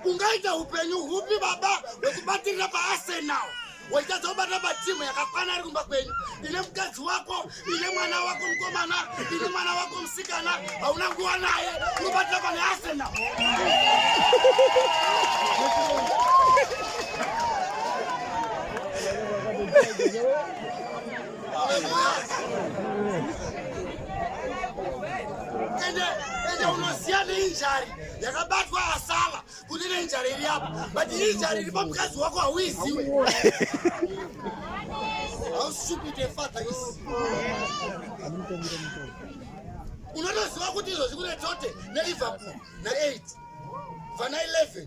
ungaita upenyu hupi baba wekubatirira paarsenal wachitadza kubata patimu yakakwana iri kumba kwenyu ine mukadzi wako ine mwana wako mukomana ine mwana wako musikana hauna nguva naye unobatira pane arsenal injari yakabatwa asala kuti ine injari iri apa but injari iri pamukadzi wako hauiziwi how stupid a father is unotoziva kuti izvozvi kune tote neliverpool na8 vana 11